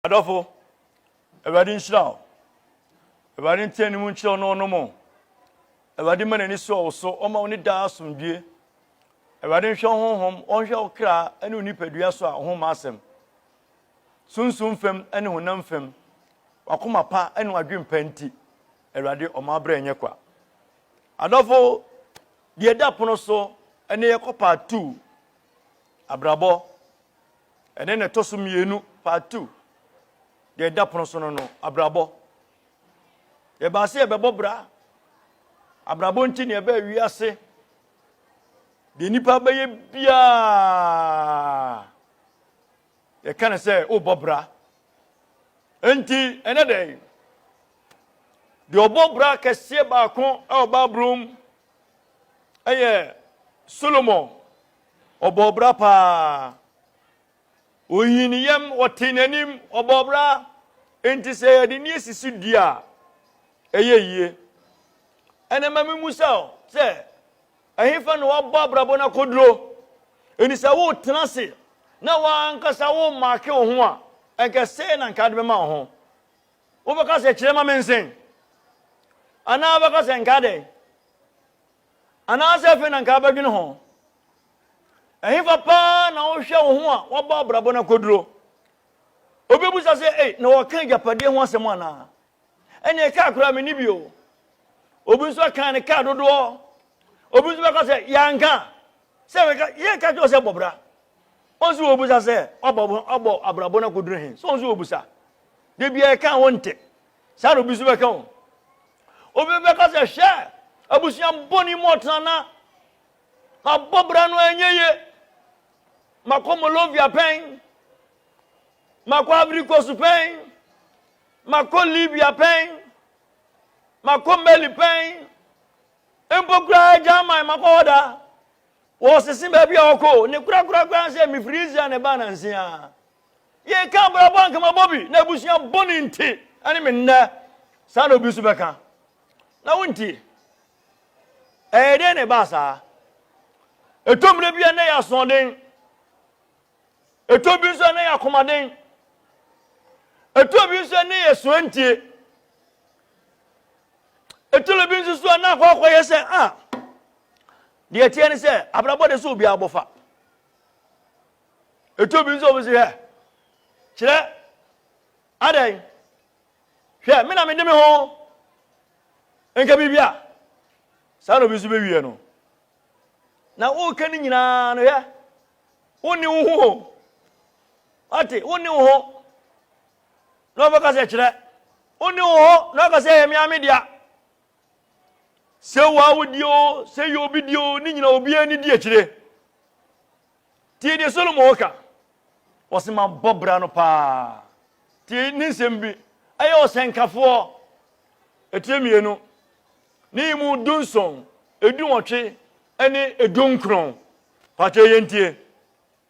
Adɔfo, Awurade nhyira wo. Awurade nte anim nkyerɛ wo na ɔnom wo. Awurade ma n'ani so wo so, ɔma wo ne daa asomdwie. Awurade nhwɛ wo honhom, ɔnhwɛ wo kra ne wo nipadua so a ɔho ma asɛm. Sunsum fam ne honam fam, wakoma pa ne wadwen pa nti, Awurade ɔma abrɛ nyɛ kwa. Adɔfo, deɛ ɛda pono so ne yɛkɔ part two, abrabɔ. Ɛne na ɛtɔ so mmienu, part two, deɛ ɛda pono so no no, abrabɔ. Yɛbaa sɛ yɛbɛbɔ bra. Abrabɔ nti na yɛbɛɛ wiase. Deɛ nipa bɛyɛ biara, yɛka no sɛ wobɔ bra. Enti ɛnɛ dɛn? Deɛ ɔbɔ bra kɛseɛ baako ɛwɔ Bible mu ɛyɛ Solomon Ɔbɔɔ bra paa. Ohinii ne yam, ɔtee n'anim, ɔbɔɔ bra. Enti sɛ yɛde nneɛ sisi dua a, ɛyɛ yie. Ɛnna ma memmisa wo sɛ, ɛhefa na woabɔ abrabɔ no akɔduro? Enti sɛ woretena ase na w'ankasa woremaake wo ho a, ɛnka sɛn na nka de bɛma wo ho? Wobɛka sɛ kyerɛ ma mensen? Anaa wobɛka sɛ nka dɛn? Anaasɛ afei na anka abɛdwene ho? Ɛhefa paa na wohwɛ wo ho a woabɔ abrabɔ no akoduro? Obi bisa sɛ, ei, na wɔka agyapadeɛ ho asɛm anaa? Ɛneɛ kaa koraa menni bio. Obi nso aka ne kaa dodoɔ. Obi nso bɛka sɛ, yɛanka. Sɛ meka, yɛka kyerɛ sɛ bɔbra. Wɔn nso wɔbusa sɛ, wabɔ abrabɔ no akoduro he? So wɔn nso wɔbusa? Da biara ɛka wɔn nte. Saa na obi nso bɛka o. Obi bɛka sɛ, hwɛ, abusua bɔne mu ɔtena na mabɔ bra no ɛnyɛ ye. Makɔ Molovia pɛn, makɔ Ivory Coast pɛn, makɔ Libya pɛn, makɔ Mali pɛn, mpo koraa German makɔ hɔ da. Wɔsese baabi a wɔkɔ ne korakorakora sɛ mefiri Israel na ɛbaa nanse a. Yɛka abrabɔ a anka mabɔ bi na abusua bɔne nti ɛne me nnɛ saa na obi nso bɛka na wontie ɛyɛ dɛn na ɛbaa saa ɛtɔ mmerɛ bi a na yɛ asoɔden ɛtɔ bi nso a na yɛ akomaden ɛtɔ bi nso a na yɛ soa ntie ɛtɔ bi nso so a na akɔ akɔyɛ sɛ a ah, deɛ ɛteɛ ne sɛ abrabɔ de sɛ obiara bɔfa Ɛtɔ bi nso wɔsi hwɛ. Kyerɛ adɛn? Hwɛ, me na mede me ho nka biribi a saa na obi nso bɛwie no. Na woka no nyinaa no hwɛ. Wonni wo ho o. Wate, wonni wo ho. Na wɔbɛka sɛ kyerɛ. Wonni wo ho na wɔka sɛ ɛyɛ me ame dea. Sɛ wo a wodie o, sɛ yɛ obi die o, ne nyina obiara ni di akyire. Tie deɛ Solomon ɔka. Ɔse mabɔ bra no paa. Tie ne nsɛm bi. Ɛyɛ ɔsɛnkafoɔ. Ɛtire mmienu. Ne yi mu du nson, edu nwɔtwe, ɛne edu nkron. Pakyɛ yɛn tie.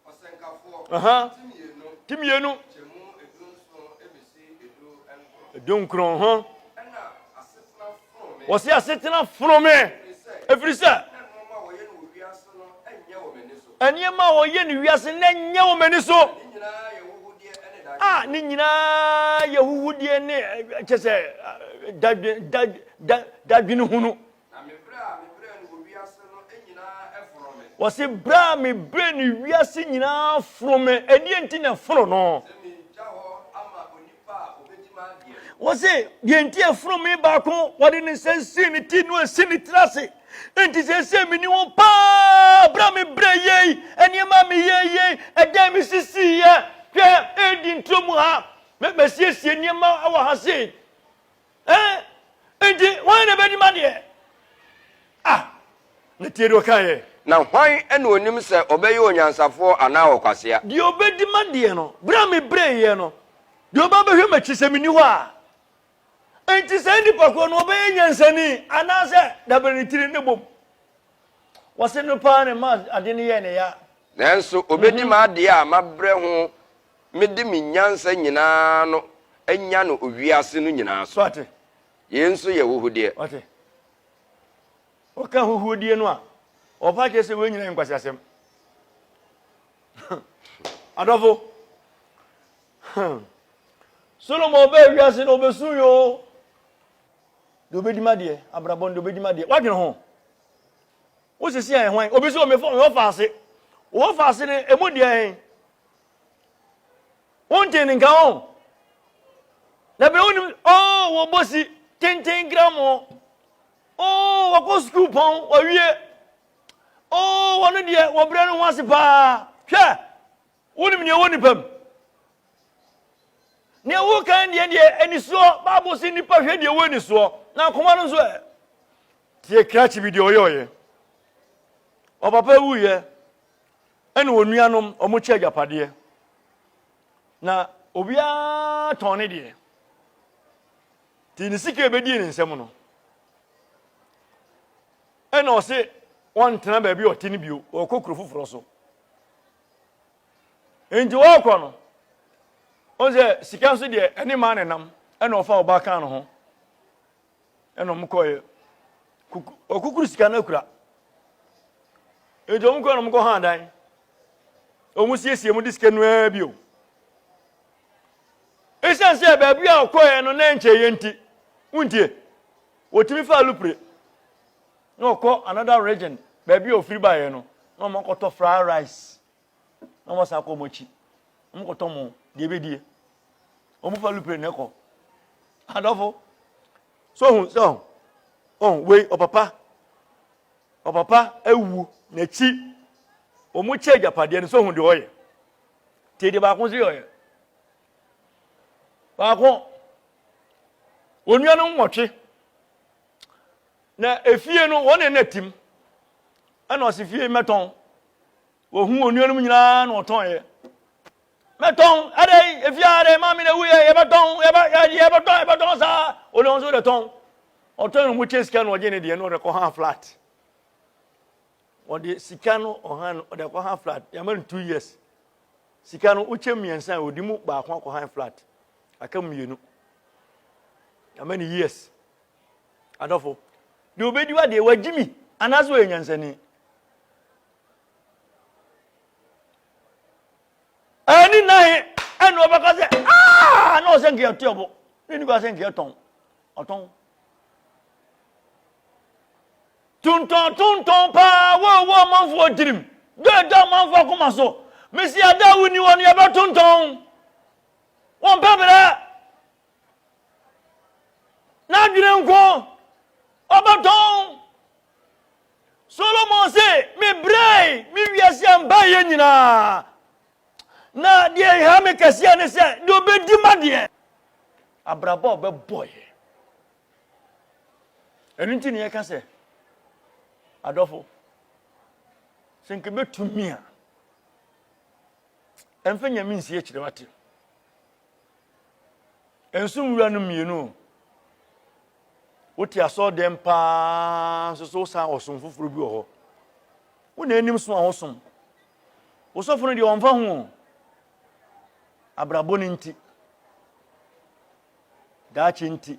Ɔsɛnkafoɔ. Aha. Ti mmienu. Ti mmienu. Kyɛmu edu nson ebesi edu nkron. Edu nkron ho. Ɛna wɔsi asetena fono me ɛfiri sɛ nneɛma a wɔyɛ no wiase na ɛnyɛ wɔ m'ani so a ne nyinaa yɛ huhudeɛ ne kyɛ sɛ dadwene hunu wɔsi berɛ a me berɛ no wiase nyinaa foro me ɛdeɛ nti na ɛforo no Wɔse, deɛ nti a funumi baako wɔde ne nsa sii ne ti no asi ne tiri ase. Enti seesei meni wo paa berɛ a mebrɛ yei, nneɛma a meyɛ yei, ɛdan me sisiiɛ. Hwɛ, ɛredi nturo mu ha. Mɛsiesie nneɛma wɔ ha sei. Ɛɛ, enti hwan na ɛbɛdi m'adeɛ? Ah, na tie deɛ ɔkaa yɛ. Na hwan na ɔnim sɛ ɔbɛyɛ onyansafoɔ anaa ɔkwasea? Deɛ ɔbɛdi m'adeɛ no, berɛ a mebrɛeɛ no, deɛ ɔba abɛhwɛ m'akyi sɛ menni hɔ a, enti saa nnipa korɔ no ɔbɛyɛ nyansani anaa sɛ dabrɛ ne tiri ne bom? Wɔse no paa na ɛma adeɛ no yɛɛ no ya. Nanso ɔbɛdi m'adeɛ a mabrɛ ho Mede me nyansa nyinaa no anya no wiase no nyinaa so. Yei nso yɛ huhudeɛ. Wate? Wɔka huhuodie no a, wɔpa akyerɛ sɛ wei nyina yɛ nkwaseasɛm. Adɔfo, Solomon ɔbɛɛ wiase no ɔbɛsuu yoo. Deɛ ɔbɛdi ma deɛ, abrabɔ no deɛ ɔbɛdi ma deɛ. Wadwene ho. Wosisi a ɛhwan? Obi sɛ ɔmefɔ ɔfa ase. Ɔfa ase no, ɛmu deɛ ɛn? wonte ne nka o na bere wonim oo wɔbɔ si tenten gram o oo wɔkɔ sukuu pɔn wɔwie oo wɔno deɛ wɔbrɛ no ho ase paa hwɛ wonim nea ɛwɔ nipa mu nea wokan deɛ deɛ anisoɔ baabo si nipa hwɛ deɛ ɛwɔ anisoɔ na akoma no nso ɛ tie krakye bi deɛ ɔyɛ ɔyɛ ɔpapa wuyɛ Ɛna onuanom, wɔkyɛ agyapadeɛ, na obiara tɔn ne deɛ. Nti ne sika ɛbɛdii ne nsam no, ɛna ɔse wɔntena baabi a ɔte no bio, ɔkɔ kuro foforɔ so. Nti wɔkɔ no, ɔn sɛ sika nso deɛ ɛne maa ne nam, ɛna ɔfa ɔbaa kaa no ho. ɛna wɔn kɔɛ kuku ɔkukuru sika no akura nti wɔn kɔɛ na wɔn kɔ hàn dan wɔn siesie mu de sika no ara bio esan sɛ baabi a ɔkɔɛ no na nkyɛn yɛ nti wuntie wɔtumi fa alupre na ɔkɔ another region baabi a ofiri baeɛ no na wɔn akɔtɔ fried rice. na wɔn san kɔ wɔn akyi wɔn kɔtɔ mo deɛ ebedie wɔn fa lupere na ɛkɔ adɔfo so ohun so ohun ohun wei ɔpapa ɔpapa ewu n'akyi wɔn kyɛ agyapadeɛ no so ohun deɛ ɔyɛ te deɛ baako so yɛ ɔyɛ baako onua no nwɔtwe na efie no wɔn na ɛna tim ɛna ɔsi fie mɛtɔn. Wɔhuu onuanom nyinaa na wɔtɔnɛ. Mɛtɔn, adɛn, efia adɛn, maame na wuyɛ, yɛbɛtɔn, yɛbɛ, yɛbɛtɔn, yɛbɛtɔn saa. Ɔde wɔn nso dɛtɔn. Ɔtɔn wɔn kyɛ sika na ɔgye ne deɛ na ɔde kɔ han flat. Ɔde sika no ɔhan no ɔde kɔ han flat. Yɛama no two years. Sika no wokyɛ mmiɛnsa a ɔde mu baako akɔ han flat. Aka mmienu. Yɛama no years. Adɔfo, deɛ ɔbɛdi wa deɛ wagye mi anaasɛ ɔyɛ nyansani. ɛni na he ɛna ɔbɛka sɛ aa na ɔsɛ nkeɛ ɔte ɔbo ne ni kɔ sɛ nkeɛ tɔn ɔtɔn tontɔn tontɔn paa wɔwɔ ɔmanfoɔ tirim dɔ ɛda ɔmanfoɔ akoma so mesi ada a wonni hɔ no yɛbɛtontɔn wɔmpɛ berɛ N'adwene nko ɔbɛtɔ. Solomon se, mebrɛe me wiase a mbaeɛ nyinaa, na deɛ ɛha me kɛseɛ ne sɛ deɛ ɔbɛdi m'adeɛ, abrabɔ a ɔbɛbɔeɛ. Ɛno nti na yɛka sɛ, adɔfo, sɛ nka bɛtumi a, ɛmfa nyame nsi akyire wate. Nso nwura no mmienu o. Wote asɔɔdɛm paa nso so wosan ɔsom foforɔ bi wɔ hɔ. Wo na anim so a wosom. Wo sɔfo no deɛ ɔmfa ho o. Abrabɔ no nti. Daakye nti.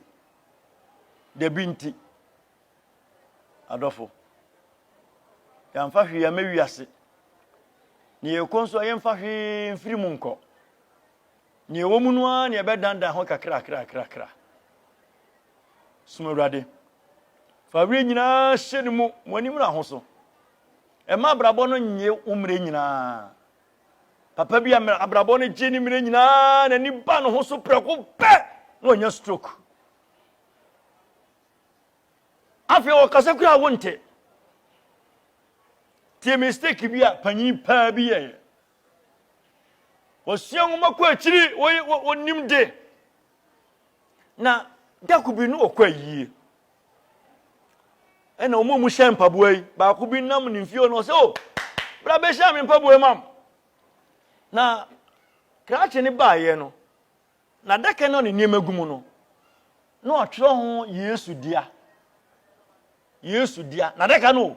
Dabi nti. Adɔfo. Yɛamfa hwee ama wiase. Ne yɛkɔ nso a yɛmfa hwee mfiri mu nkɔ. Nea ɛwɔ mu no ara na yɛbɛdandan ho kakrakrakra. Som Awurade. Fa were nyinaa hyɛ ne mu, mo ani mmra ho so. Ɛma abrabɔ no nye wo mmerɛ nyinaa. Papa bi a abrabɔ no gye ne mmerɛ nyinaa n'ani ba ne ho so prɛko pɛ na ɔnya stroke. Afei ɔkasa kura a wonte. Tie mistake bi a panyin paa bi yɛeɛ. Wɔsua nwoma kɔ akyiri, wɔnim de, na da ko bi no wɔkɔ ayie. Ɛna wɔn a wɔn hyɛ mpaboa yi, baako bi nam ne mfie na ɔsɛ o, bra bɛhyɛ me mpaboa mam. Na krakye ne baayɛ no, Na adaka no a ne nneɛma gu mu no, na wɔatwerɛ ho Yesu dea. Yesu dea. Na adaka no,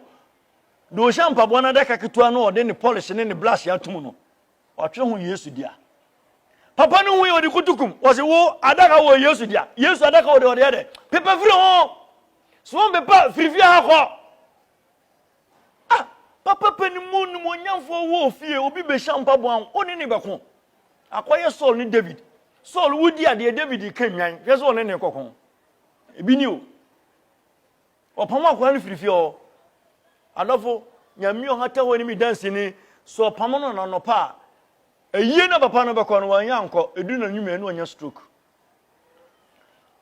deɛ ɔhyɛ mpaboa no adaka ketewa no ɔde ne polish ne ne blush atom no, wɔatwerɛ ho Yesu dea. Papa no hui ɔde kutukum, wɔse wo adaka wɔ Yesu dea. Yesu adaka wɔ deɛ ɔde yɛ dɛ. Pepa firi ho. So wɔn pepa firifie ha kɔ. Ah! Papa panin mu nimuonyamfoɔ wɔ ofie, obi bɛhyia mpaboa ho, wo ne ne bɛko. Akɔyɛ Saul ne David. Saul wodi adeɛ, David ka nnwan, hwɛ sɛ ɔne ne kɔko. Ebi ni o. Ɔpam akɔa no firi fie hɔ. Adɔfo, nyame ɔhata hɔ ne me danseni, sɛ ɔpam no nanɔpa a, ayie na papa no bɛkɔ no, wanyɛ ankɔ, edu na nwuma ɛne ɔnya stroke.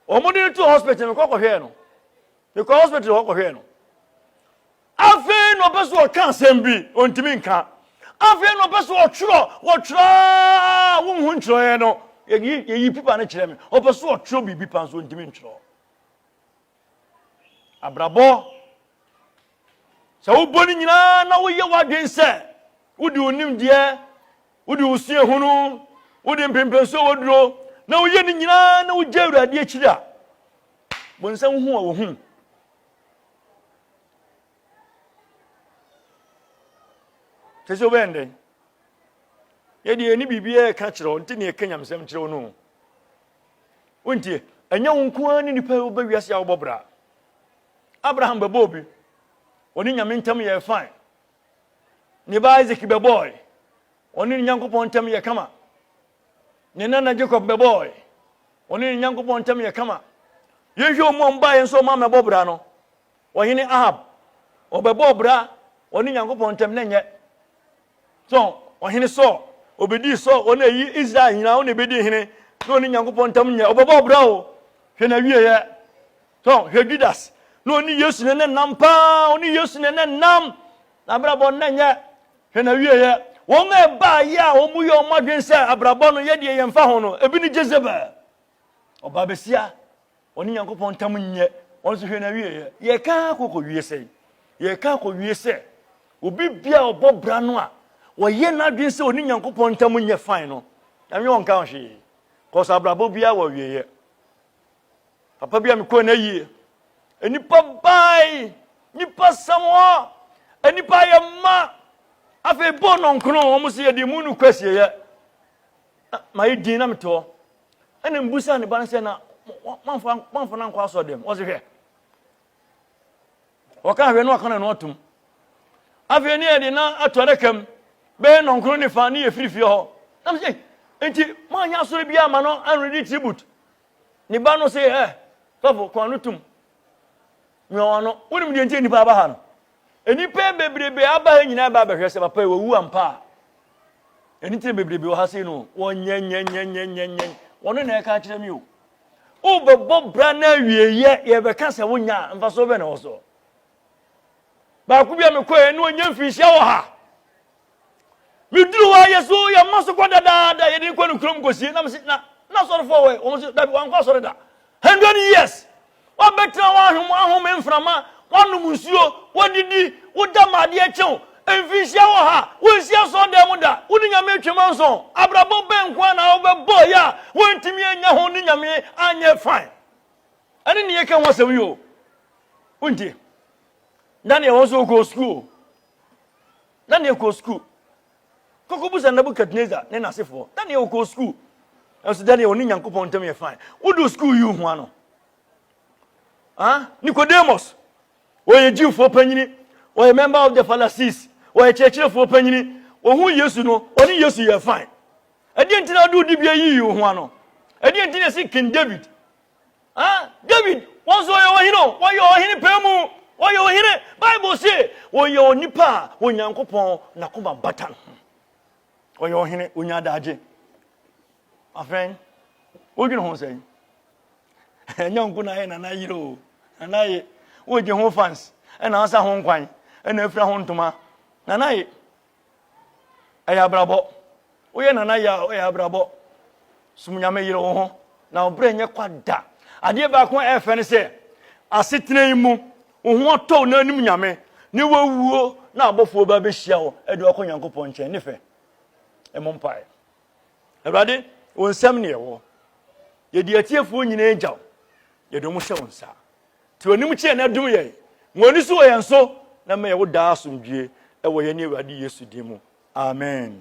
wɔn de no to hospital mekɔ kɔhwɛɛ no mekɔ hospital hɔ kɔhwɛɛ no afei na ɔpɛ so ɔka asɛm bi ɔntumi nka afei na ɔpɛ so ɔtwerɛ wɔtwerɛ wonhu ntwerɛeɛ no yɛyi pipa no kyerɛ me ɔpɛ so ɔtwerɛ biribi pa nso ɔntumi ntwerɛ Abrabɔ, sɛ wobɔ no nyinaa na woyɛ w'adwene sɛ wode wo nimdeɛ, wode wo suahunu, wode mpremprenso a woduro na woyɛ no nyinaa na wogya Awurade akyiri a, bonsam wohu a wohu. Kyɛ sɛ wobɛyɛ ndɛn? Yɛdeɛ ɛni biribiara ɛka kyerɛ wo, nti ne ɛka nyamesɛm kyerɛ wo no. Wontie? Ɛnyɛ wo nko ara ne nipa a woba wiase a wobɔ bra. Abraham bɛbɔɔ bi. Ɔne Nyame ntam yɛɛ fine. Ne ba Isaac bɛbɔɔe. Ɔne ne Nyankopɔn ntam yɛ kama. Ne nana Jacob bɛbɔɔe. Ɔne ne Nyankopɔn ntam yɛ kama. Yɛnhwɛ ɔmo a ɔmo baeɛ nso ɔmo amɛbɔ bra no. Ɔhene Ahab, ɔbɛbɔɔ bra ɔne Nyankopɔn ntam na nyɛ. So Ɔhene Saul, obedii Saul, wɔn a eyi Israel nyinaa, wɔn na ebedi hene, na ɔne Nyankopɔn ntam nyɛ, ɔbɛbɔ ɔbra o, hwɛ n'awieɛ. So hwɛ Judas, na ɔne Yesu na ɛnam paa, ɔne Yesu na ɛnam, n'abrabɔ na ɛnyɛ, hwɛ n'awieɛ. Wɔn a ɛbaayɛ a wɔyɛ wɔn adwene sɛ abrabɔ no yɛ deɛ yɛmfa ho no, ebi ne Jezebel, Ɔbaa basia, ɔne Nyankopɔn ntam nyɛ, ɔno nso hwɛ n'awieɛ. Yɛreka ara kɔ kɔwie sɛn? Yɛreka kɔwie sɛ, obi bia a ɔbɔ bra no a, ɔyɛ n'adwene sɛ ɔne Nyankopɔn ntam nyɛ fine no, Nyame ɔnka ho hwee. Kɔs abrabɔ biara wɔ awieɛ. Papa bi a mekɔɔ n'ayie, nnipa bae, nnipa sɛm hɔ, nnipa ayɛ mma, afei bɔɔ nɔnkono, wɔn sɛ yɛde mu no kɔ asieɛ. Na mayɛ din na mete hɔ. Ɛna mbusa ne ba no sɛ na mamfa no ankɔ asɔ dɛm. Ɔse hwɛ. Ɔka hwɛ na waka no ano atom. Afei ne yɛde na ato adaka mu bɛyɛ nɔnkoro ne fa ne yɛ firi fie hɔ. Na mese nti moanyɛ asɔre bi ama no anredi tribute. Ne ba no se ɛ sɔfo kɔn no tom. Mia wɔn ano. Wonim deɛ nti a nnipa aba ha no? Nnipa bebrebe aba ha nyinaa ba abɛhwɛ sɛ papa yi wawu ampa a. Ɛno nti na bebrebe wɔ ha sei no wɔnyɛnyɛnyɛnyɛnyɛnyɛn wɔno na ɛka akyerɛ me o. Wobɛbɔ bra no awieyɛ yɛbɛka sɛ wonya a mfasoɔ bɛn na wɔ soɔ. Baako bi a mekɔɛ ne ɔnya mfirihyia wɔ ha. Meduru hɔ a, yɛ so yɛ mma so kɔ dadaada, yɛde no kɔ ne kurom kɔsie. Na mese, na, na asɔrefoɔ wɔ wɔn so, dabi, wankɔ asɔre da. Hundred years. Wabɛtena hɔ ahom, ahome mframa, wanom nsuo, wadidi, woda ma adeɛ kyew. Mfinhyia wɔ ha, wonsi asɔredan mu da, wo ne Nyame atwam anso. Abrabɔ bɛn nko ara na wobɛbɔ yɛ a woantumi anya ho ne Nyame anyɛ fine. Ɛne ne yɛka ho asɛm yi o. Wontie. Daniel wɔn so wɔkɔɔ sukuu o. Na nea ɔkɔɔ sukuu kɔkɔbisa Nebukadnesar ne n'asefoɔ. Na nea ɔkɔɔ sukuu nso dɛneɛ ɔne Nyankopɔn ntam yɛ fine. Wodu sukuu yi hua no. Ah, Nicodemus, ɔyɛ Jewfoɔ panyini, ɔyɛ member of the Pharisees, ɔyɛ kyerɛkyerɛfoɔ panyini. Ɔhu Yesu no, ɔne Yesu yɛ fine. Ɛdeɛ nti na wode wo dibea yii wo ho ano? Ɛdeɛ nti na ɛsi King David Ah, David, wɔn nso wɔyɛ ɔhene o, wɔyɛ ɔhene paa mu, wɔyɛ ɔhene. Bible se wɔyɛ onipa a Onyankopɔn n'akoma bata no ho. Ɔyɛ ɔhene, onya adagye. Afɛn, wodwene ho sɛn? Ɛnyɛ nko na ayɛ nana yere o, nana ye, wogye ho fans, ɛna asa ho nkwan, ɛna afira ho ntoma, nana ye. Ɛyɛ abrabɔ. Woyɛ nana yɛ a, ɛyɛ abrabɔ. Som Nyame, yere wo ho, na wo berɛ nyɛ kwa da. Adeɛ baako a ɛfɛ ne sɛ, asetena yi mu, wo ho atɔ wo na wonim Nyame, ne woawuo na abɔfoɔ ba bɛhyia wo de wo akɔ Nyankopɔn nkyɛn. Ne fɛ. Ɛmɔ mpaeɛ. Awurade, wo nsam ne ɛwɔ. Yɛde atiefoɔ nyinaa gya wo. Yɛde wɔn hyɛ wo nsa. Te w'anim kyeɛ na dom yɛn. Ma w'ani so wɔ yɛn so na ma yɛwo daa asomdwie wɔ yɛne Awurade Yesu din mu. Amen.